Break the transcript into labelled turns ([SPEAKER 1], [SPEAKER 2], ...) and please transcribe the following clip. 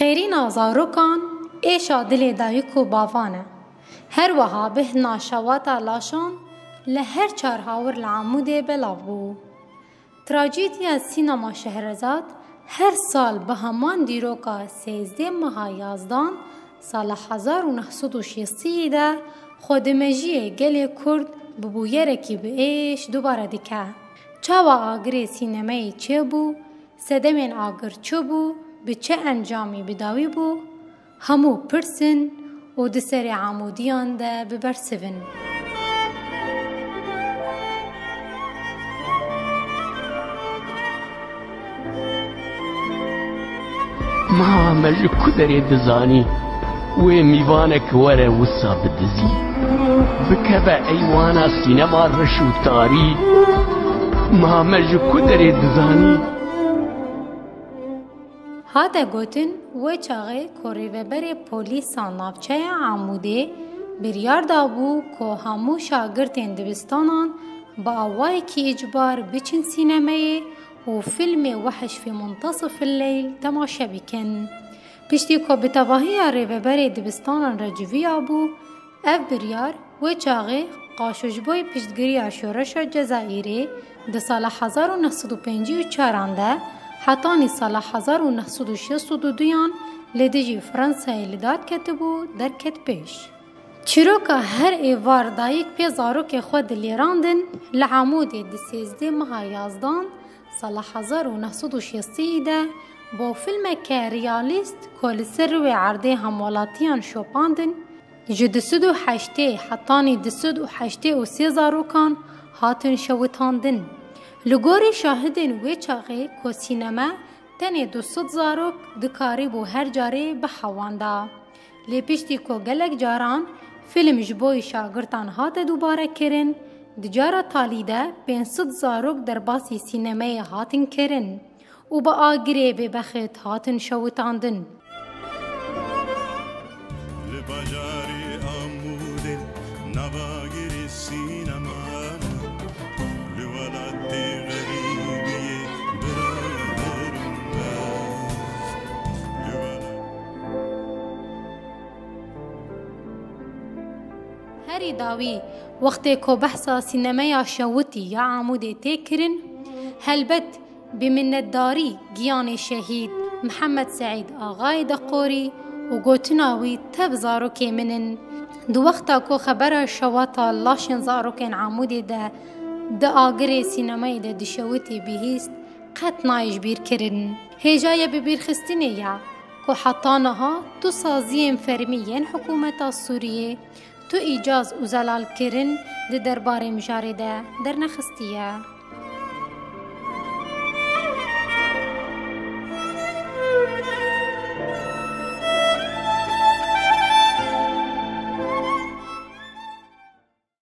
[SPEAKER 1] Qêrîna zarokan êşa dilê dayik û bavan e. Her wiha bihna şewata laşan li her çar hawir li Amûdê belav bû. Trajediya Sînama Şehrezad her sal bi heman dîroka sêzdeh meha yazdan Sala hezar û neh sed û şêstî de xwedimejiyê gelê Kurd bi bûyerekî bi êş dubare dike. Çawa agirê sînemeyê çêbû, sedemên agir çi bû, bi çi encamî bi dawî bû, hemû pirs in û di serê amûdiyan de bi bersiv in.
[SPEAKER 2] Mava me ji ku derê dizanî wê mîvanek were wisa bi dizî bikeve eywana sînema reş û tarî ma me ji ku derê dizanî.
[SPEAKER 1] Hate gotin we çaxê ku rêveberê polîsa navçeya Amûdê biryar dabû ku hemû şagirtên dibistanan bi awayekî îcbar biçin sînemeyê û fîlmê Wehiş fî muntasif il leyl temaşe bikin. Piştî ku bi tevahiya rêveberê dibistanan re civiya bû, ev biryar wê çaxê qaşo ji bo piştgiriya şoreşa Cezayîrê di sala hezar û neh sed û pêncî û çaran de hetanî sala hezar û neh sed û şêst û du duyan li dijî Fransayê li dad ketibû derket pêş. Çîroka her êvar dayik pê zarokê xwe dilêrandin li Amûdê di sêzdeh meha yazdan sala hezar û neh sed û şêst iyî de bo filmeke realîst ku li ser rûê erdê hemwelatiyan şopandin ji du sed û heştê hetanî du sed û heştê û sê zarokan hatin şewitandin. Li gorî şahidên wê çaxê ku sînema tenê du sed zarok dikarîbû her carê bihewanda. Lê piştî ku gelek caran fîlm ji bo şagirtan hate dûbarekirin, di cara talî de pênc sed zarok derbasî sînemeyê hatin kirin û bi agirê bêbexet hatin şewitandin. Li bajarê Amûdê nava agirê sîneman e. Li welatê xerîbiyê birader û mem. Herî dawî wextê ku behsa sînemeya şewitî ya Amûdê tê kirin, helbet bi minnetdarî giyanê şehîd Mihemed Seîd Axayê de qorî û gotina wî tev zarokê min in. Di wexta ku xebera şewata laşên zarokên Amûdê de di agirê sînemayê de dişewitî bihîst, qet nayê ji bîr kirin. Hêja ye bibîrxistinê ya ku heta niha tu saziyên fermî yên hikûmeta Sûriyê, tu îcaz û zelalkirin di derbarê mijarê de dernexistiye.